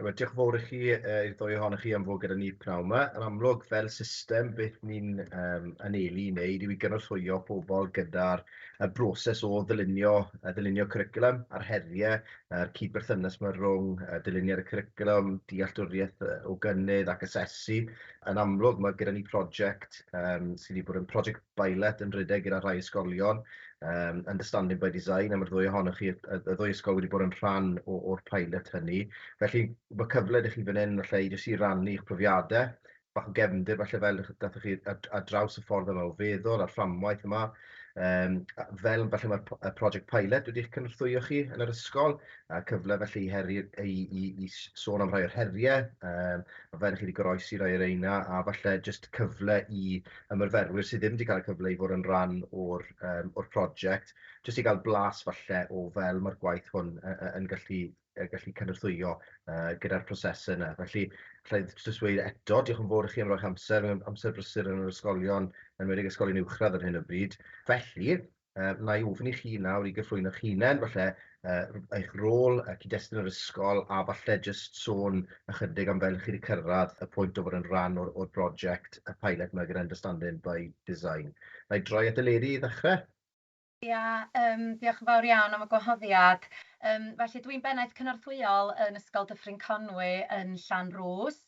Ewa, diolch yn fawr i chi, uh, i'r ddwy ohonoch chi am fod gyda ni pnawn yma. Yn amlwg, fel system, beth ni'n um, anelu i wneud yw i gynorthwyo pobl gyda'r y broses o ddylunio, uh, ddylunio curriculum a'r heriau a'r cyd-berthynas mae rhwng uh, dyluniad y curriculum, dealltwriaeth uh, o gynnydd ac asesu. Yn amlwg, mae gyda ni prosiect um, sydd wedi bod yn prosiect bailet yn rhedeg gyda rhai ysgolion, yym Understanding by Design, a ma'r ddwy ohonoch chi, y ddwy ysgol wedi bod yn rhan o o'r pilot hynny. Felly ma' cyfle 'da chi fan 'yn falle i jyst i rannu'ch profiade, bach o gefndir falle fel dach dathoch chi ar ar draws y ffordd yma o feddwl a'r fframwaith yma, yym a- fel falle ma'r p- y project pilot wedi'ch cynorthwyo chi yn yr ysgol, a cyfle felly i heri- i i i s- sôn am rhai o'r herie yym a fel chi wedi goroesi rhai o reina, a falle jyst cyfle i ymyrferwyr sydd ddim wedi cael y cyfle i fod yn rhan o'r yym o'r project, jyst i gael blas falle o fel mae'r gwaith hwn yy yy yn gallu yy gallu cynorthwyo yy gyda'r prosese 'na. Felly, alla i jyst weud eto, diolch yn fowr i chi am roi'ch amser, amser brysur yn yr ysgolion, yn enwedig ysgolion uwchradd ar hyn o bryd. Felly, Yy, na i ofyn i chi nawr i gyflwyno'ch hunen, falle yy eich rôl, y cyd-destun yr ysgol, a falle jyst sôn ychydig am fel chi wedi cyrraedd y pwynt o fod yn rhan o'r o'r broject, y pilot 'ma gyda Understanding by Design. Na i droi at Eleri i ddechrau. Ia, yym, diolch yn fawr iawn am y gwahoddiad. Yym, felly dwi'n Bennaeth Cynorthwyol yn Ysgol Dyffryn Conwy yn Llanrwst.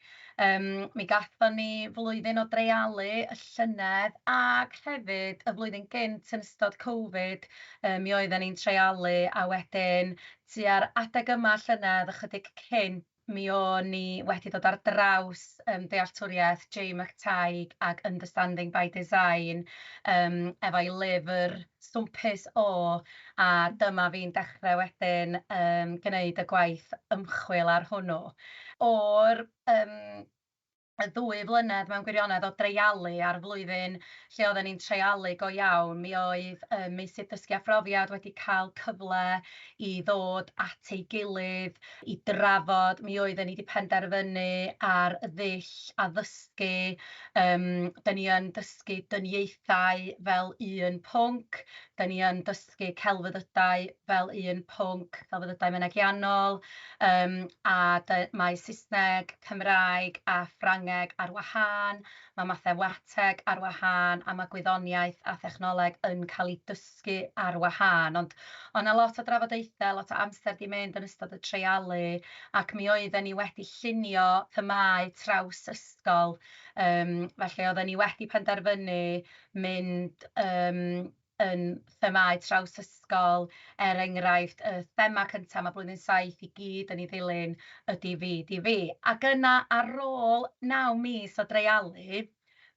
Yym, mi gaethon ni flwyddyn o dreialu y llynedd ac hefyd y flwyddyn gynt yn ystod Covid, yy, mi oedden ni'n treialu a wedyn tua'r adeg yma llynedd, ychydig cynt, mi o'n ni wedi dod ar draws yym dealltwriaeth Jay McTighe ag Understanding by Design yym efo'i lyfr swmpus o, a dyma fi'n dechrau wedyn yym gwneud y gwaith ymchwil ar hwnnw. O'r yym y ddwy flynedd mewn gwirionedd o dreialu a'r flwyddyn lle oedden ni'n treialu go iawn, mi oedd y meysydd dysgu a phrofiad wedi cael cyfle i ddod at ei gilydd, i drafod, mi oedden ni 'di penderfynu ar ddull a dysgu, yym dan ni yn dysgu dyniaethau fel un pwnc, dan ni yn dysgu celfyddydau fel un pwnc, celfyddydau mynegiannol, yym a dy- mae Saesneg, Cymraeg a Ffrangeg ar wahân, mae mathemateg ar wahân a mae gwyddoniaeth a thechnoleg yn cael eu dysgu. dysgu ar wahân, ond oedd 'na lot o drafodaethau, lot o amser 'di mynd yn ystod y treialu, ac mi oedden ni wedi llunio themâu traws ysgol, yym felly oedden ni wedi penderfynu mynd yym yn themâu traws ysgol, er enghraifft y thema cynta' ma' blwyddyn saith i gyd yn ei ddilyn ydi fi, di fi. Ac yna ar ôl naw mis o dreialu,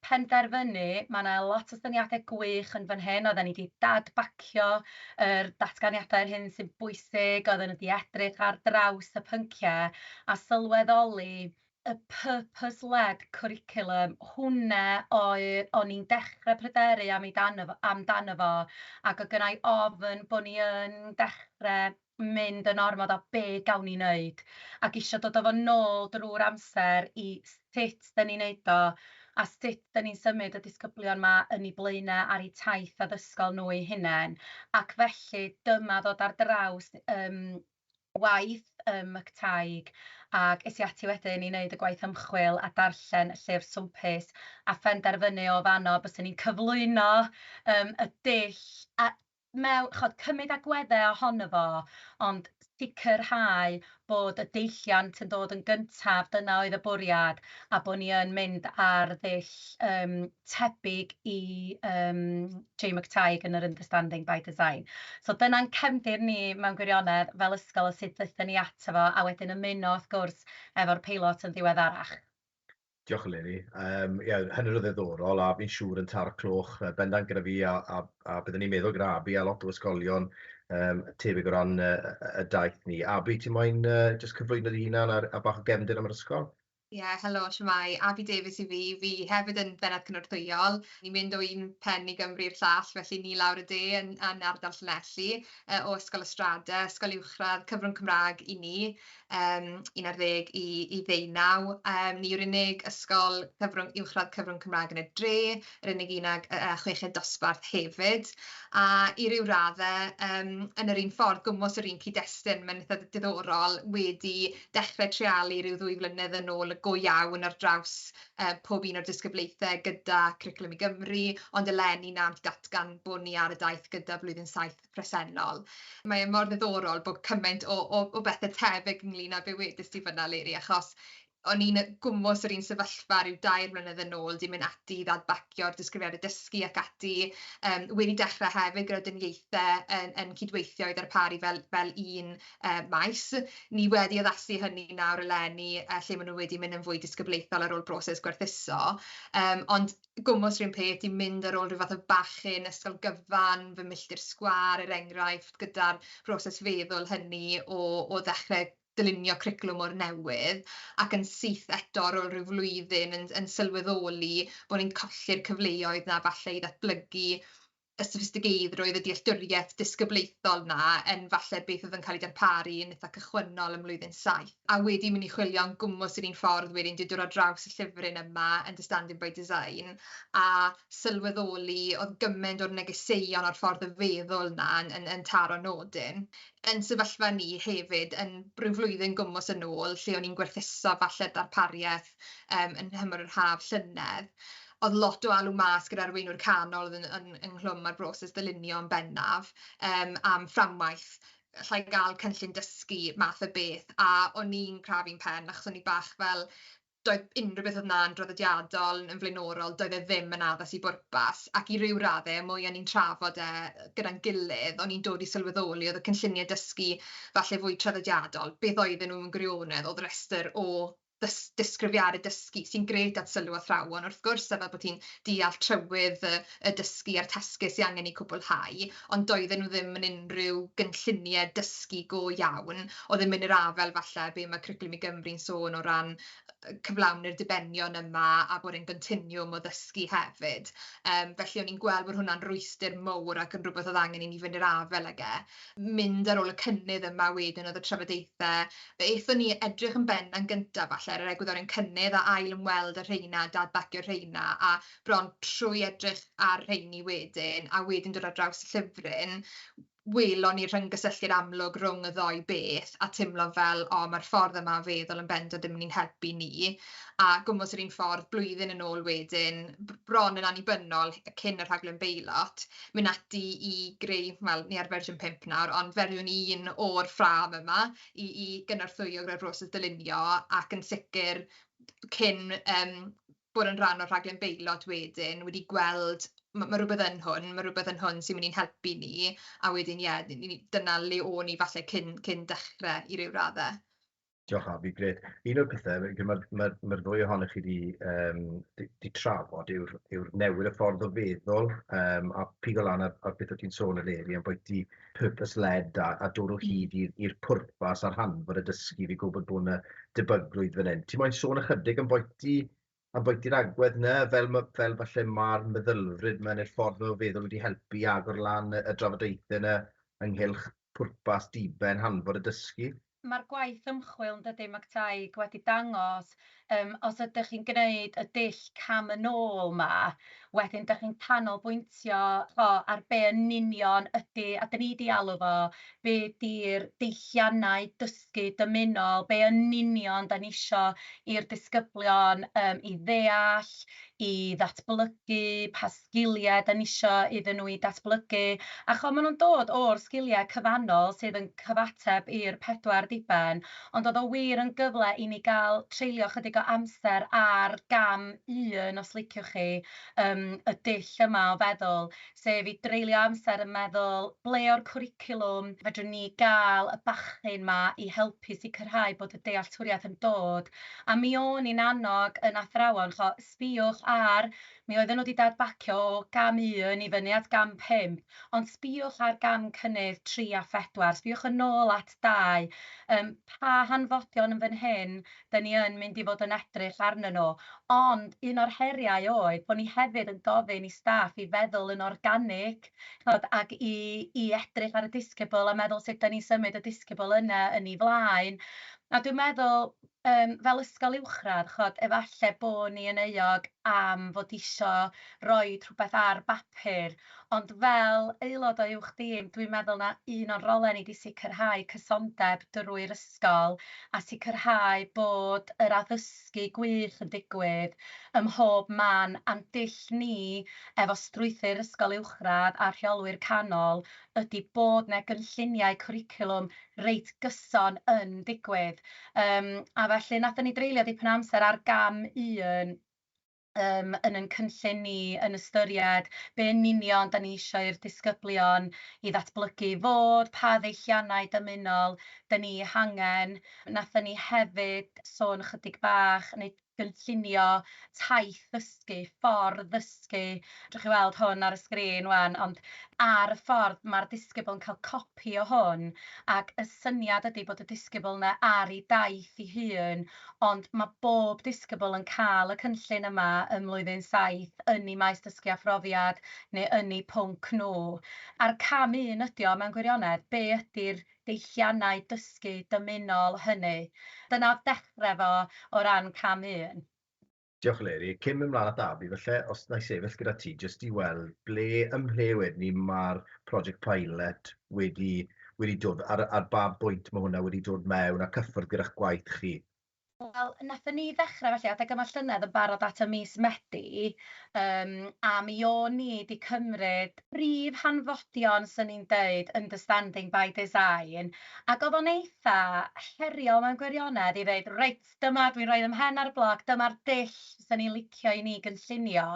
penderfynu, mae yna lot o syniadau gwych yn fan hyn, oedden ni 'di dad-bacio yr datganiadau yr hyn sy'n bwysig, oedden nhw 'di edrych ar draws y pynciau a sylweddoli y purpose-led curriculum, hwnna oedd o'n i'n dechrau pryderu amdano fo, ac oedd gynna i ofn bod ni yn dechrau mynd yn ormod o be gawn ni neud ac isio dod a fo nôl drwy'r amser i sut 'da ni'n neud o a sut 'da ni'n symud y disgyblion 'ma yn i blaenau ar eu taith addysgol nhw eu hunain ac felly dyma ddod ar draws yym waith ym Mctaig ac es i ati wedyn i neud y gwaith ymchwil a darllen y llyfr swmpus a phenderfynu o fanno byswn i'n cyflwyno yym y dull a mewn, ch'od, cymyd agwedde ohono fo, ond sicrhau bod y deilliant yn dod yn gyntaf, dyna oedd y bwriad, a bod ni yn mynd ar ddull yym tebyg i yym Jay McTighe yn yr Understanding by Design. So dyna'n cefndir ni mewn gwirionedd fel ysgol o sut ddaethon ni ato fo, a wedyn ymuno wrth gwrs efo'r peilot yn ddiweddarach. Diolch Eleri. Yym ie hynny oedd yn ddiddorol a fi'n siŵr yn taro cloch yy bendant gyda fi a a a byddwn ni'n meddwl gyda Abi a lot o ysgolion yym tebyg o ran yy yy y daith ni. Abi ti moyn yy jyst cyflwyno dy hunan a'r a bach o gefndir am yr ysgol? Ie helo shwmae, Abi Davies yw fi, fi hefyd yn Bennaeth Cynorthwyol, ni'n mynd o un pen i Gymru i'r llall felly ni lawr y de yn yn ardal Llanelli yy o Ysgol Y Strade, ysgol uwchradd, cyfrwng Cymrâg i ni. yym 11 i i ddeunaw, yym ni yw'r unig ysgol cyfrwng uwchradd cyfrwng Cymraeg yn y dre, yr unig un ag yy chweched dosbarth hefyd, a i ryw radde yym yn yr un ffordd, gwmws yr un cyd-destun, ma'n itha diddorol, wedi dechre treialu ryw ddwy flynedd yn ôl y go iawn ar draws yy pob un o'r disgyblaethe gyda Cwricwlwm i Gymru, ond eleni nawr datgan bod ni ar y daith gyda blwyddyn saith presennol. Mae e mor ddiddorol bod cymaint o o o bethe tebyg ynglŷn â be wedest ti fan'na Leri achos o'n i'n yy gwmws yr un sefyllfa ryw dair mlynedd yn ôl 'di mynd ati i ddadbacio'r disgrifiadau dysgu ac ati yym wedi dechre hefyd gyda dynniaethe yn yn cydweithio i ddarparu fel fel un yy maes. Ni wedi addasu hynny nawr eleni yy lle ma' nw wedi mynd yn fwy disgyblaethol ar ôl broses gwerthuso yym ond gwmws 'r un peth, i mynd ar ôl rhyw fath o bachyn ysgol gyfan, fy milltir sgwâr er enghraifft, gyda'r broses feddwl hynny o o ddechre dylunio cwricwlwm o'r newydd, ac yn syth eto ar ôl rhyw flwyddyn yn yn sylweddoli bo' ni'n colli'r cyfleoedd 'na falle i ddatblygu y soffistigeiddrwydd, y dealltwriaeth disgyblaethol 'na yn falle beth oedd yn cael ei darparu yn eitha' cychwynnol ym mlwyddyn saith, a wedi mynd i chwilio yn gwmws yr un ffordd wedyn, dwi 'di dod ar draws y llyfryn yma, Understanding by Design, a sylweddoli oedd gymaint o'r negeseuon a'r ffordd o feddwl 'na yn yn yn taro nodyn. Yn sefyllfa ni hefyd, yn ryw flwyddyn gwmws yn ôl, lle o'n i'n gwerthuso falle darpariaeth yym yn nhymor yr haf llynedd, o'dd lot o alw mas gyda arweinwyr canol o'dd yn yn ynghlwm â'r broses ddylunio yn bennaf yym am fframwaith, allai ga'l cynllun dysgu math o beth, a o'n i'n crafu'n pen achos o'n i bach fel doedd unrhyw beth o'dd 'na'n draddodiadol yn flaenorol doedd e ddim yn addas i bwrpas ac i ryw radde y mwya o'n i'n trafod e gyda'n gilydd o'n i'n dod i sylweddoli o'dd y cynllunie dysgu falle fwy traddodiadol beth oedden n'w mewn gwirionedd o'dd rester o ddys- disgrifiadau dysgu sy'n grêt at sylw athrawon wrth gwrs a fel bod hi'n deall trywydd y y dysgu a'r tasgu sy angen eu cwblhau, ond doedden nhw ddim yn unrhyw gynllunie dysgu go iawn, o'dd ddim yn yr afael falle be ma' Cwricwlwm i Gymru'n sôn o ran yy cyflawni'r dibenion yma a bod e'n gontinwwm o ddysgu hefyd, yym felly o'n i'n gweld bod hwnna'n rwystyr mowr ac yn rwbeth o'dd angen i ni fynd i'r afael ag e. mynd ar ôl y cynnydd yma wedyn oedd y trafodaethau, fe aethon ni edrych yn bennaf yn gyntaf falle ar yr egwyddorion cynnydd a ail ymweld â'r rheina, dad-bacio'r rheina a bron trwy edrych ar rheini wedyn a wedyn dod ar draws y llyfryn, welon ni'r rhyng-gysylltiad amlwg rhwng y ddou beth a teimlo fel o mae'r ffordd yma o feddwl yn bendant yn mynd i'n helpu ni a gwmws yr un ffordd blwyddyn yn ôl wedyn, bron yn annibynnol cyn y rhaglen beilot. mynd ati i greu, wel ni ar fersiwn pump nawr, ond fersiwn un o'r ffrâm yma i i gynorthwyo gyda'r broses dylunio ac yn sicr cyn yym bod yn rhan o'r rhaglen beilot wedyn wedi gweld ma' ma' rwbeth yn hwn, ma' rwbeth yn hwn sy'n mynd i'n helpu ni, a wedyn ie ni ni dyna le o'n ni falle cyn cyn dechre i ryw radde. Diolch Avi, grêt. Un o'r pethe, mae'r ma, ma ddwy ohonoch chi wedi um, di, di trafod yw'r yw newid y ffordd o feddwl um, a pigo lan ar, ar beth o ti'n sôn eleni am bwyty purpose-led a, a dod o mm. hyd i'r pwrpas a'r hanfod y dysgu fi gwybod bod yna debygrwydd fan hyn. Ti'n moyn sôn ychydig am bwyty a bwyty i'r agwedd 'na, fel ma- fel falle ma'r meddylfryd 'ma ne'r ffordd 'ma o feddwl wedi helpu i agor lan y y drafodaethe 'na ynghylch pwrpas diben hanfod y dysgu. Ma'r gwaith ymchwil, yn dydi, McTighe, wedi dangos, yym, os ydych chi'n gneud y dull cam yn ôl 'ma, wedyn dych chi'n canolbwyntio, ch'bo', ar be' yn union ydi, a 'dan ni 'di alw fo, be' 'di'r deilliannau dysgu dysgu dymunol, be yn union dan ni isio i'r disgyblion yym i ddeall, i ddatblygu, pa sgiliau dan ni isio iddyn nhw i datblygu, a chimod maen nhw'n dod o'r sgiliau cyfannol sydd yn cyfateb i'r pedwar diben, ond oedd o wir yn gyfle i ni gael treulio ychydig o amser ar gam un, os liciwch chi, yym y dull yma o feddwl. sef i dreulio amser yn meddwl ble o'r cwricwlwm fedrwn ni gael y bachyn 'ma i helpu sicrhau bod y dealltwriaeth yn dod, a mi o'n i'n annog yn athrawon, ch'mo', sbïwch ar, mi oedden nhw 'di dad-bacio o gam un i fyny at gam pump, ond sbïwch ar gam cynnydd tri a phedwar, sbïwch yn ôl at dau, yym, pa hanfodion yn fan hyn 'dyn ni yn mynd i fod yn edrych arnyn nhw, ond un o'r heriau oedd bod ni hefyd yn gofyn i staff i feddwl yn organig, chimod, ac i i edrych ar y disgybl a meddwl sut 'dan ni'n symud y disgybl yna yn ei flaen, a dwi'n meddwl, yym, fel ysgol uwchradd, chimod, efallai bod ni yn euog am fod isio rhoi rhywbeth ar bapur, Ond fel aelod o Uwch Dîm, dwi'n meddwl na un o'n rolau ni 'di sicrhau cysondeb drwy'r ysgol a sicrhau bod yr addysgu gwych yn digwydd ym mhob man a'n dull ni efo strwythur ysgol uwchradd a rheolwyr canol ydi bod 'na gynlluniau cwricwlwm reit gyson yn digwydd. Yym a felly nathon ni dreulio dipyn o amser ar gam un yym yn ein cynllun ni, yn ystyried be yn union dan ni isio i'r disgyblion i ddatblygu fod, pa ddeilliannau dymunol dan ni eu hangen. Wnaethon ni hefyd sôn ychydig bach, neu gynllunio taith ddysgu, ffordd ddysgu, dach chi'n weld hwn ar y sgrin 'wan, ond ar y ffordd mae'r disgybl yn cael copi o hwn, ac y syniad ydy bod y disgybl 'na ar ei daith ei hun, ond mae bob disgybl yn cael y cynllun yma ym Mlwyddyn Saith yn eu maes dysgu a phrofiad neu yn eu pwnc nhw. A'r cam un ydy o, mewn gwirionedd, be ydy'r deilliannau dysgu dymunol hynny? Dyna oedd dechrau fo o ran cam un. Diolch Eleri. Cyn mynd mlaen at Avi falle, os wna i sefyll gyda ti jyst i weld ble ym mhle wedyn 'ny ma'r project pilot wedi wedi dod ar ar ba bwynt ma' hwnna wedi dod mewn a cyffwrdd gyda'ch gwaith chi? Wel, nathon ni ddechre felly adeg yma llynedd yn barod at y mis Medi yym a mi o'n ni 'di cymryd prif hanfodion 'swn i'n deud Understanding by Design ac o'dd o'n eitha heriol mewn gwirionedd i ddeud reit, dyma, dwi'n rhoi fy mhen ar y bloc, dyma'r dull 'sen ni'n licio i ni gynllunio.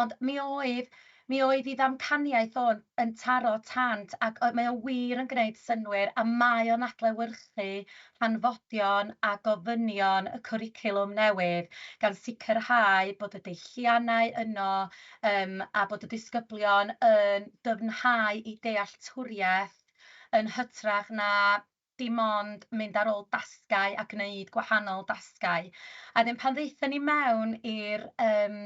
Ond mi oedd, mi oedd ei ddamcaniaeth o yn taro tant ac mae o wir yn gwneud synnwyr a mae o'n adlewyrchu hanfodion a gofynion y cwricwlwm newydd, gan sicrhau bod y deilliannau yno yym a bod y disgyblion yn dyfnhau eu dealltwriaeth yn hytrach na dim ond mynd ar ôl dasgau a gwneud gwahanol dasgau. A wedyn pan ddaethon ni mewn i'r yym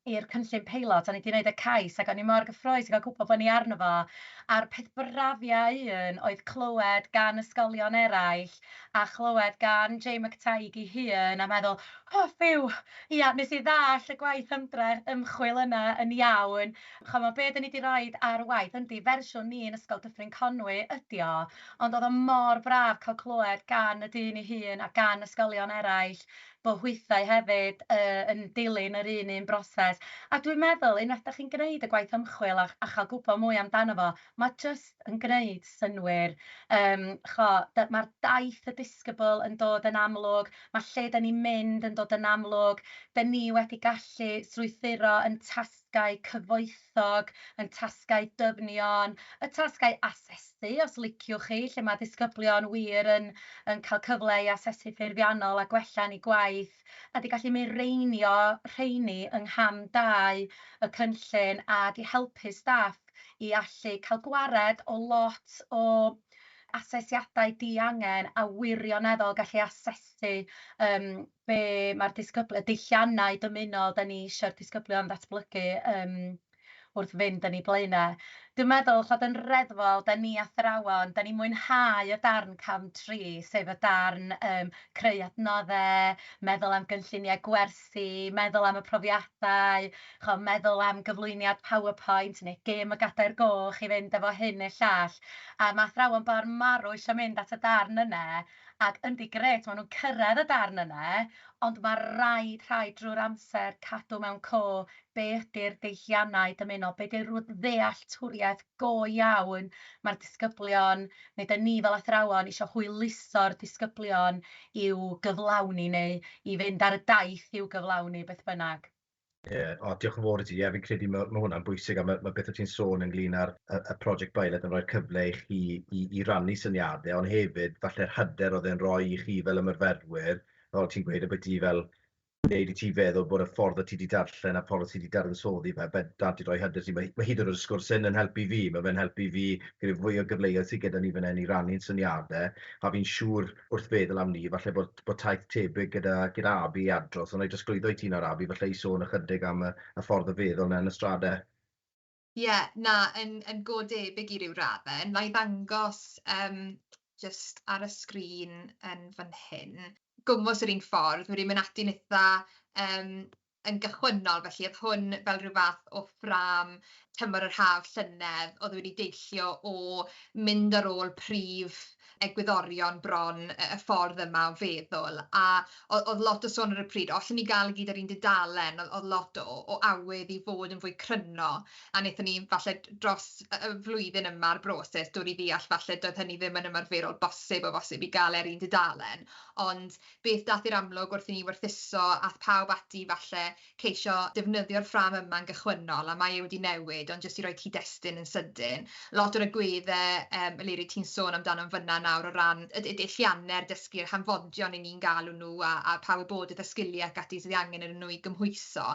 i'r cynllun peilot, o'n i 'di wneud y cais ac o'n i mor gyffrous i gael gwybod bod ni arno fo, a'r peth brafiau un oedd clywed gan ysgolion eraill a chlywed gan Jay McTague ei hun a meddwl, o ffîw, ia, wnes i ddallt y gwaith ymdrech, ymchwil yna yn iawn, chimod, be dan ni 'di roid ar waith, yndi, fersiwn ni'n Ysgol Dyffryn Conwy ydy o, Ond oedd o mor braf cael clywed gan y dyn ei hun a gan ysgolion eraill bod hwythau hefyd yy yn dilyn yr un un broses. A dwi'n meddwl, unwaith dach chi'n gwneud y gwaith ymchwil a a chael gwybod mwy amdano fo, mae jyst yn gwneud synnwyr. Yym, chibod, mae'r daith, y disgybl yn dod yn amlwg, mae lle dan ni'n mynd yn dod yn amlwg, dan ni wedi gallu strwythuro yn tas-. tasgau cyfoethog, ein tasgau dyfnion, y tasgau asesu os liciwch chi, lle mae disgyblion wir yn yn cael cyfle i asesu ffurfiannol a gwella'n eu gwaith, a 'di gallu mireinio rheini yng ngham dau y cynllun ac i helpu staff i allu cael gwared o lot o asesiadau diangen a wirioneddol gallu asesu yym be mae'r disgybl- y deilliannau dymunol 'da ni isio'r disgyblion ddatblygu yym wrth fynd yn eu blaenau. Dwi'n meddwl ch'od yn reddfol, 'da ni athrawon, 'da ni'n mwynhau y darn cam tri, sef y darn yym creu adnodde, meddwl am gynlluniau gwersi, meddwl am y profiadau, ch'o' meddwl am gyflwyniad PowerPoint neu gêm y gadair goch i fynd efo hyn neu llall, a ma' athrawon bor marw isio mynd at y darn yna, ac yndi, grêt, maen nhw'n cyrraedd y darn yna, ond mae rhaid, rhaid drwy'r amser cadw mewn co be ydy'r deilliannau dymunol, be ydy'r ddealltwriaeth go iawn mae'r disgyblion, neu ydan ni fel athrawon eisiau hwyluso'r disgyblion i'w gyflawni neu i fynd ar y daith i'w gyflawni, beth bynnag. Ie, o, diolch yn fawr i ti. Ie, fi'n credu mae, mae hwnna'n bwysig a mae, mae beth o ti'n sôn ynglyn â'r y, y prosiect Bailet yn rhoi'r cyfle i chi i, i rannu syniadau, ond hefyd falle'r hyder oedd e'n rhoi i chi fel ymyrferwyr, fel ti'n gweud, y beth i fel wneud i ti feddwl bod y ffordd o ti wedi darllen a ffordd o ti wedi dadansoddi fe, bendant i roi hyder ti. Mae, mae hyd yn oed y sgwrs hyn yn helpu fi, mae fe'n helpu fi gyda fwy o gyfleoedd sydd gyda ni fan hyn i rannu'n syniadau, a fi'n siŵr wrth feddwl am 'ny, falle bod bod taith tebyg gyda gyda Abi i Adros, ond 'nai drosglwyddo i ti nawr Abi, falle i sôn ychydig am y y ffordd o feddwl 'na yn y strade. Ie, na, yn yn go debyg i ryw radde, nai ddangos yym jyst ar y sgrin yn fan hyn, gwmws yr un ffordd, wedi myn' ati'n itha yym yn gychwynnol, felly o'dd hwn fel rhyw fath o ffrâm tymor yr haf llynedd o'dd wedi deillio o mynd ar ôl prif egwyddorion bron y y ffordd yma o feddwl, a o- o'dd lot o sôn ar y pryd, o allen ni ga'l e gyd ar un dudalen, o'dd o'dd lot o o awydd i fod yn fwy cryno, a nethon ni falle d- dros y y flwyddyn yma'r broses dod i ddeall falle doedd hynny ddim yn ymarferol bosib o bosib i ga'l e ar un dudalen, ond Beth daeth i'r amlwg wrth i ni werthuso ath pawb ati falle ceisio defnyddio'r ffrâm yma'n gychwynnol a mae e wedi newid ond jyst i roi cyd-destun yn sydyn lot o'r agwedde yym Eleri ti'n sôn amdano'n fynna nawr o ran y y deillianne'r dysgu yr hanfodion 'yn ni'n galw nhw a a pa wybodaeth a sgilie ac ati sydd angen arnyn nhw i gymhwyso.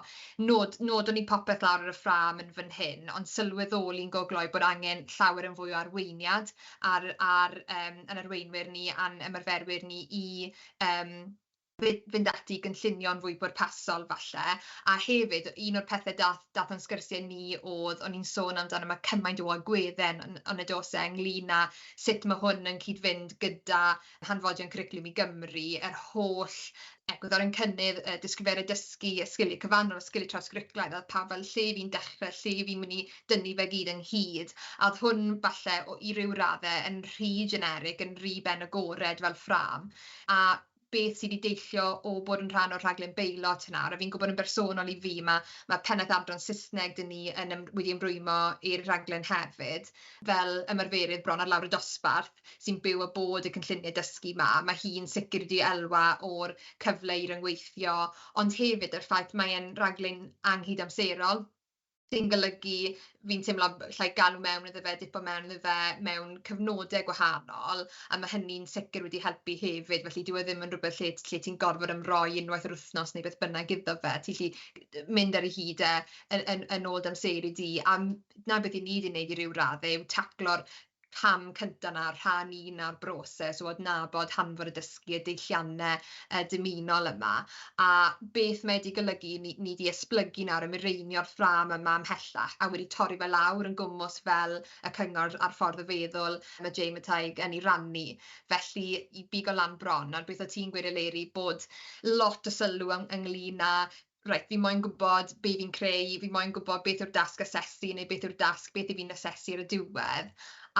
Nod- nodwn ni popeth lawr ar y ffrâm yn fyn hyn ond sylweddoli'n go gloi bod angen llawer yn fwy o arweiniad ar ar yym yn arweinwyr ni a'n ymarferwyr ni i yym fy- fynd ati i gynllunio'n fwy pwrpasol falle, a hefyd un o'r pethe dath dath o'n sgyrsie ni o'dd o'n i'n sôn amdano ma' cymaint o agwedde yn yn y do's e ynglŷn â sut ma' hwn yn cyd-fynd gyda hanfodion cwricwlwm i Gymru, yr holl egwyddor yn cynnydd, y disgrifiadau dysgu, y sgiliau cyfannol, y sgiliau trawsgwricwlaidd, a oedd pawb fel 'lle fi'n dechrau, lle fi'n mynd i dynnu fe gyd ynghyd', a oedd hwn falle o- i ryw raddau yn rhy generic, yn rhy ben agored fel ffrâm, a beth sy' 'di deillio o bod yn rhan o'r rhaglen beilot hwnna, a fi'n gwybod yn bersonol i fi ma' ma' pennaeth adran Saesneg 'da ni yn ym- wedi ymrwymo i'r rhaglen hefyd, fel ymarferydd bron ar lawr y dosbarth. sy'n byw a bod y cynlluniau dysgu 'ma, ma' hi'n sicr wedi elwa o'r cyfle i ryngweithio, ond hefyd yr ffaith mae e'n raglen anghydamserol, sy'n golygu fi'n teimlo llai galw mewn iddo fe, dipo mewn iddo fe mewn cyfnode gwahanol, a ma' hynny'n sicr wedi helpu hefyd, felly dyw e ddim yn rwbeth lle lle ti'n gorfod ymroi unwaith yr wythnos neu beth bynnag iddo fe, ti 'llu mynd ar ei hyd e yn yn yn ôl dy amseru di, a 'na beth 'yn ni 'di neud i ryw radde yw taclo'r cam cynta 'na, rhan un o'r broses o adnabod hanfod y dysgu, y deillianne yy dymunol yma, a beth mae 'di golygu i ni, ni 'di esblygu nawr a mireinio'r ffrâm yma ymhellach, a wedi torri fe lawr yn gwmws fel y cyngor a'r ffordd o feddwl ma' Jay Mataig yn 'i rannu, felly i bigo lan bron, nawr beth o' ti'n gweud Eleri bod lot o sylw yng- ynglŷn â reit, fi moyn gwybod be fi'n creu, fi moyn gwybod beth yw'r dasg asesu neu beth yw'r dasg beth i fi'n asesu ar y diwedd,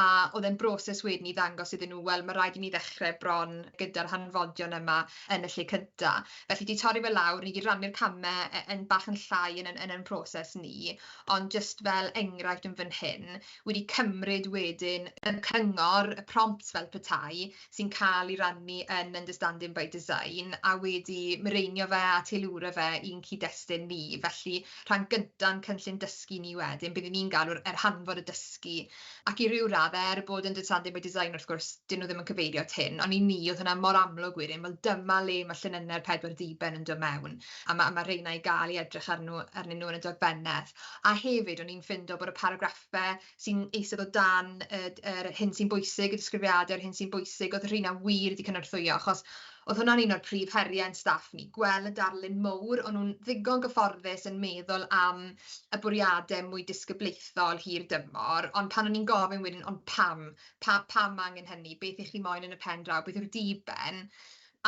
a o'dd e'n broses wedyn i ddangos iddyn nhw wel ma' raid i ni ddechre bron gyda'r hanfodion yma yn y lle cynta, felly 'di torri fe lawr, ni 'di rannu'r came yy yn bach yn llai yn yn yn ein proses ni, ond jyst fel enghraifft yn fan hyn, wedi cymryd wedyn y cyngor, y prompts fel petai, sy'n cael ei rannu yn Understanding by Design a wedi mireinio fe a teilwra fe i'n cyd-destun ni. Felly, rhan gynta o'n cynllun dysgu ni wedyn, be 'dyn ni'n galw yr hanfod o dysgu, ac i ryw radde, er bod Understanding by Design wrth gwrs, 'dyn nhw ddim yn cyfeirio at hyn, ond i ni o'dd hwnna mor amlwg wedyn, wel dyma le ma' llunynne'r pedwar ddiben yn do' mewn, a ma' a ma' rheina i ga'l i edrych arnw arnyn nhw yn y dogfennedd. A hefyd, o'n i'n ffindo bod y paragraffe sy'n eistedd o dan y d- yr hyn sy'n bwysig, y disgrifiadau o'r hyn sy'n bwysig, oedd rheina wir wedi cynorthwyo, achos oedd hwnna'n un o'r prif heriau ein staff ni, gweld y darlun mowr, o'n nhw'n ddigon gyfforddus yn meddwl am y bwriadau mwy disgyblaethol hir dymor, ond pan o'n i'n gofyn wedyn ond pam, pa- pam angen hynny, beth 'y chi moyn yn y pen draw, beth yw'r diben?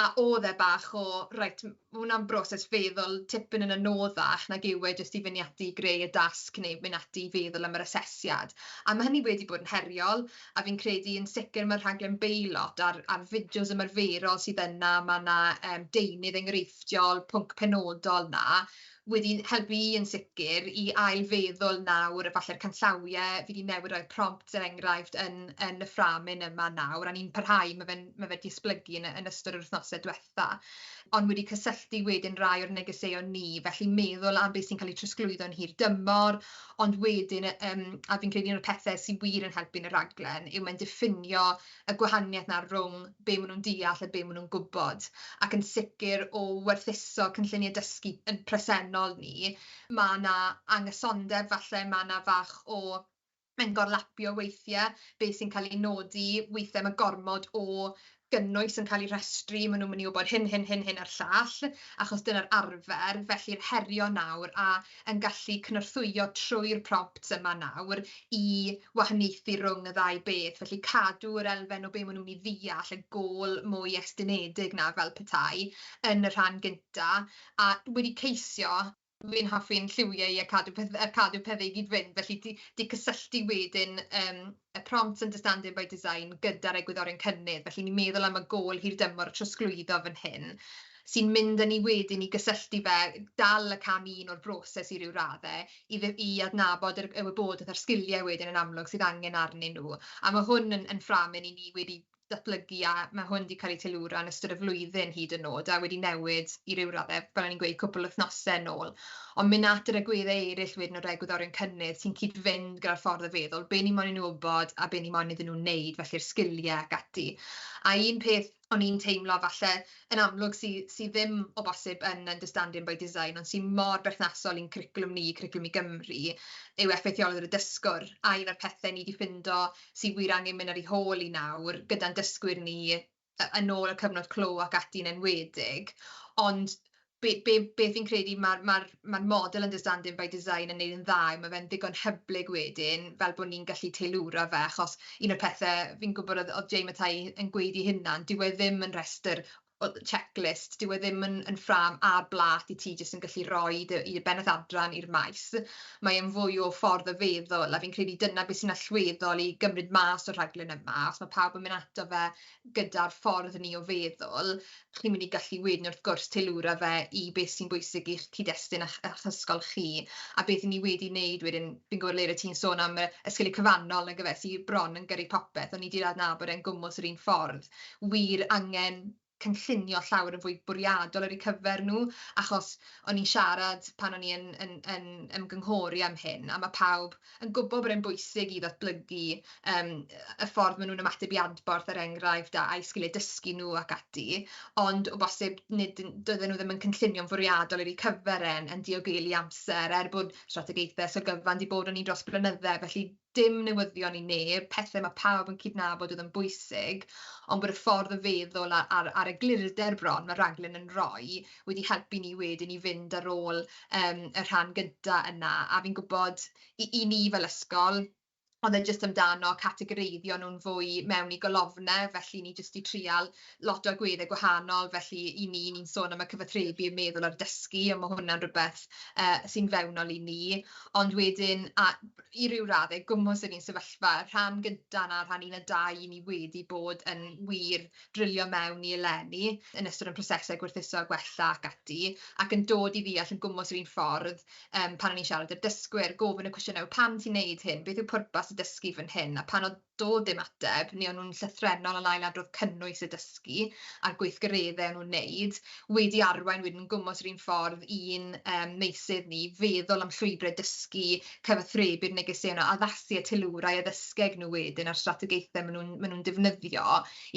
a oedd e bach o reit, ma' hwnna'n broses feddwl tipyn yn anoddach nag yw e jyst i fynd ati i greu y dasg neu mynd ati i feddwl am yr asesiad, a ma' hynny wedi bod yn heriol, a fi'n credu yn sicr ma'r rhaglen beilot a'r a'r fideos ymarferol sydd yna, ma' 'na yym deunydd enghreifftiol, pwnc penodol 'na, wedi helpu i yn sicr i ail-feddwl nawr, falle'r canllawie fi 'di newid roi'r prompts er enghraifft yn yn y ffrâm hyn yma nawr, a ni'n parhau, ma' fe'n ma' fe 'di esblygu yn yn ystod yr wythnose dwetha, ond wedi cysylltu wedyn rai o'r negeseuon ni, felly meddwl am beth sy'n cael ei trosglwyddo yn hir dymor, ond wedyn yym a fi'n credu un o'r pethe sy wir yn helpu yn y rhaglen yw mae'n diffinio y gwahaniaeth 'na rhwng be' ma' nhw'n deall a be' ma' nhw'n gwybod, ac yn sicr o werthuso cynlluniau dysgu yn presennol ni, ma' 'na anghysondeb falle, ma' 'na fach o mae'n gorlapio weithie, be' sy'n cael ei nodi, weithie ma' gormod o gynnwys yn cael ei rhestru, ma' nhw'n mynd i wybod hyn, hyn, hyn, hyn a'r llall, achos dyna'r arfer, felly'r herion nawr, a yn gallu cynorthwyo trwy'r prompts yma nawr i wahaniaethu rhwng y ddau beth, felly cadw yr elfen o be maen nhw'n ei ddeall, y gôl mwy estynedig 'na fel petai, yn y rhan gynta, a wedi ceisio, fi'n hoffi'n lliwiau a cadw peth- a cadw pethe i gyd-fynd, felly 'di 'di cysylltu wedyn yym y Prompts Understanding by Design gyda'r egwyddorion cynnydd, felly ni'n meddwl am y gôl hirdymor o trosglwyddo fan hyn, sy'n mynd â ni wedyn i gysylltu fe, dal y cam un o'r broses i ryw radde, i ddy- i adnabod yr y wybodaeth a'r sgiliau wedyn yn amlwg sydd angen arnyn nhw, a ma' hwn yn yn fframyn i ni wedi datblygu a ma' hwn 'di cael ei teilwra yn ystod y flwyddyn hyd yn o'd a wedi newid i ryw radde fel o'n i'n gweud cwpwl wythnose nôl ond myn' at yr agwedde eryll wedyn o'r egwyddorion cynnydd sy'n cyd-fynd gyda'r ffordd o feddwl be' ni moyn i nw wbod a be' ni moyn iddyn nw neud felly'r sgilie ac ati a un peth o'n i'n teimlo falle yn amlwg sy sy ddim o bosib yn Understanding by Design ond sy mor berthnasol i'n cwricwlwm ni, Cwricwlwm i Gymru yw effeithiolrwydd y dysgwr a un o'r pethe ni 'di ffindo sydd wir angen mynd ar ei hôl hi nawr, gyda'n dysgwyr ni, yn ôl y cyfnod clo ac ati yn enwedig, ond be- be- beth fi'n credu ma'r ma'r ma'r model understanding by design yn neud yn dda yw ma' fe'n ddigon hyblyg wedyn fel bo' ni'n gallu teilwra fe achos un o'r pethe fi'n gwbod o'dd o'dd Jay Mathau yn gweud 'i hunan dyw e ddim yn rhestr o checklist, dyw e ddim yn yn ffrâm a blât i ti jyst yn gallu roi dy i dy bennaeth adran i'r maes, mae e'n fwy o ffordd o feddwl, a fi'n credu dyna be sy'n allweddol i gymryd mas o'r rhaglen yma, os ma' pawb yn mynd ato fe gyda'r ffordd ni o feddwl, chi'n mynd i gallu wedyn wrth gwrs teilwra fe i be sy'n bwysig i'ch cyd-destun a'ch a'ch ysgol chi, a beth 'yn ni wedi neud wedyn, fi'n gwybod Lera ti'n sôn am yy y sgiliau cyfannol nagyfe sy bron yn gyrru popeth, o'n i 'di adnabod e'n gwmws yr un ffordd. wir angen cynllunio llawer yn fwy bwriadol ar eu cyfer nhw, achos o'n i'n siarad pan o'n i yn yn yn ymgynghori am hyn, a ma' pawb yn gwbod bod e'n bwysig i ddatblygu yym y ffordd ma' nhw'n ymateb i adborth er enghraifft, a'u sgiliau dysgu nhw ac ati, ond o bosib nid yn- doedden nhw ddim yn cynllunio'n fwriadol ar eu cyfer e'n yn diogelu amser, er bod strategaethau so gyfan 'di bod arni dros blynydde, felly dim newyddion i neb, pethe ma' pawb yn cydnabod oedd yn bwysig, ond bod y ffordd o feddwl a- a'r a'r eglurder bron ma' raglen yn roi wedi helpu ni wedyn i fynd ar ôl yym y rhan gynta yna, a fi'n gwbod i i ni fel ysgol o'dd e jyst amdano categoreiddio nw'n fwy mewn i golofne, felly ni jyst 'di trial lot o agwedde gwahanol, felly i ni ni'n sôn am y cyfathrebu, y meddwl a'r dysgu, a ma' hwnna'n rwbeth yy sy'n fewnol i ni, ond wedyn a- i ryw radde, gwmws yr un sefyllfa, y rhan gynta' 'na, rhan un a dau, 'yn ni wedi bod yn wir drilio mewn i eleni yn ystod ein prosese gwerthuso a gwella ac ati, ac yn dod i ddeall yn gwmws yr un ffordd yym pan o'n i'n siarad â'r dysgwyr, gofyn y cwestiynau 'o pam ti'n neud hyn, beth yw pwrpas y dysgu fan hyn, a pan o'dd dodd dim ateb, neu o'n nhw'n llythrennol yn ail-adrodd cynnwys y dysgu a'r gweithgareddau o'n nhw'n neud, wedi arwain wedyn yn gwmws yr un ffordd i'n yym meysydd ni, feddwl am llwybrau dysgu, cyfathrebu'r negeseuon 'na, addasu y teilwrau a ddysgeg nhw wedyn a'r strategaethau ma' nhw'n ma' nhw'n defnyddio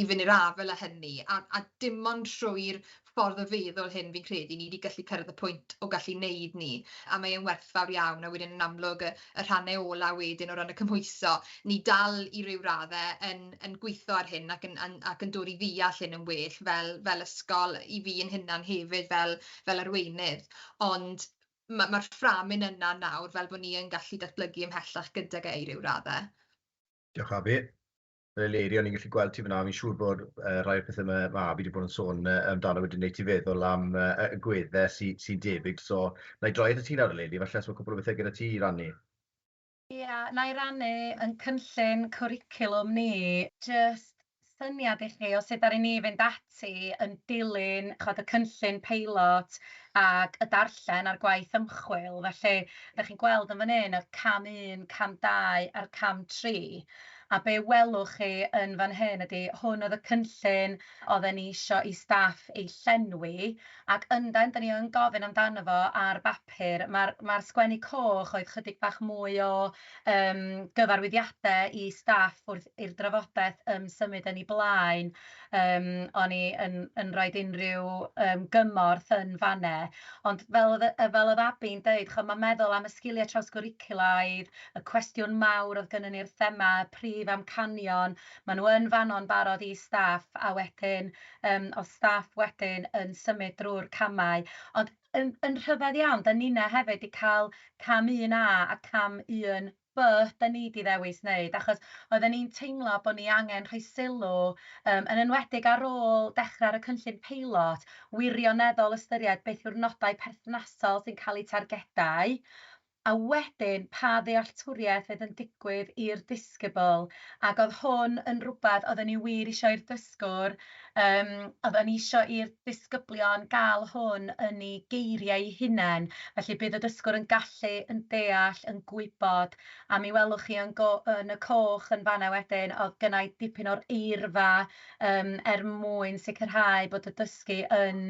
i fyny'r afael â hynny, a a dim ond trwy'r ffordd o feddwl hyn fi'n credu ni 'di gallu cyrraedd y pwynt o gallu 'neud 'ny, a mae e'n werthfawr iawn, a wedyn yn amlwg y y rhannau ola' wedyn o ran y cymhwyso, ni dal i ryw radde yn yn gwitho ar hyn ac yn yn ac yn dod i ddeall hyn yn well fel fel ysgol, i fi yn hunan hefyd fel fel arweinydd, ond ma' ma'r fframyn yna nawr fel bo' ni yn gallu datblygu ymhellach gydag e i ryw radde. Diolch Avi. Fel Eleri, o'n i'n gallu gweld ti fan'na, fi'n siŵr bod yy rhai o'r pethe ma' ma' Avi 'di bod yn sôn yy amdano wedi neud ti feddwl am yy yy y gwedde sy sy'n debyg, so nâi droi atat ti nawr eleni, falle os ma' cwpwl o bethe gyda ti i rannu. Ia, nâi rannu 'yn cynllun cwricwlwm ni, jyst syniad i chi o sut ddaru ni fynd ati yn dilyn ch'od y cynllun peilot ac y darllen a'r gwaith ymchwil, felly dach chi'n gweld yn fan hyn yr cam un, cam dau a'r cam tri, a be' welwch chi yn fan hyn ydi hwn oedd y cynllun oedden ni isio i staff ei llenwi ac yndan 'dan ni yn gofyn amdano fo ar bapur, ma'r ma'r sgwennu coch oedd chydig bach mwy o Yym, gyfarwyddiadau i staff wrth i'r drafodaeth yym symud yn ei blaen. Yym, o'n i yn yn rhoid unrhyw yym gymorth yn fan'ne. Ond fel oedd yy fel oedd Abi'n deud, chimod, ma' meddwl am y sgiliau trawsgwricwlaidd, y cwestiwn mawr oedd gynnon ni'r thema, y prif amcanion, maen nhw yn fan'no'n barod i staff, a wedyn yym oedd staff wedyn yn symud drwy'r camau. Ond Yn, yn rhyfedd iawn. Da ninna hefyd 'di ca'l cam un A a cam un By da ni 'di ddewis neud achos oedden ni'n teimlo bo' ni angen rhoi sylw yym yn enwedig ar ôl dechre ar y cynllun peilot, wirioneddol ystyried beth yw'r nodau perthnasol sy'n ca'l eu targedau, A wedyn, pa ddealltwriaeth oedd yn digwydd i'r disgybl? Ac oedd hwn yn rhywbeth oedden ni wir isio i'r dysgwr, yym, oedden ni isio i'r disgyblion gael hwn yn eu geiriau eu hunain, felly bydd y dysgwr yn gallu, yn deall, yn gwybod, a mi welwch chi yn go- yn y coch yn fan'na wedyn, oedd gynna' i dipyn o'r eirfa, yym, er mwyn sicrhau bod y dysgu yn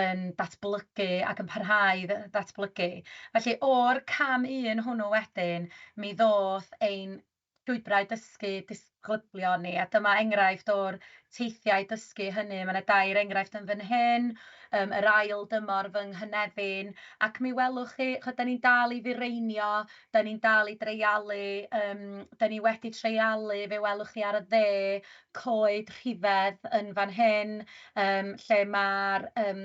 yn datblygu ac yn parhau i ddatblygu. Felly, o'r cam un hwnnw wedyn, mi ddoth ein llwybrau dysgu disglyblion ni, a dyma enghraifft o'r teithiau dysgu hynny. Mae 'na dair enghraifft yn fan hyn, yym yr ail dymor fy nghynefin, ac mi welwch chi, chimod, 'dan ni'n dal i fireinio, 'dan ni'n dal i dreialu, yym 'dan ni wedi treialu, fe welwch chi ar y dde, coed rhifedd yn fan hyn, yym, lle ma'r yym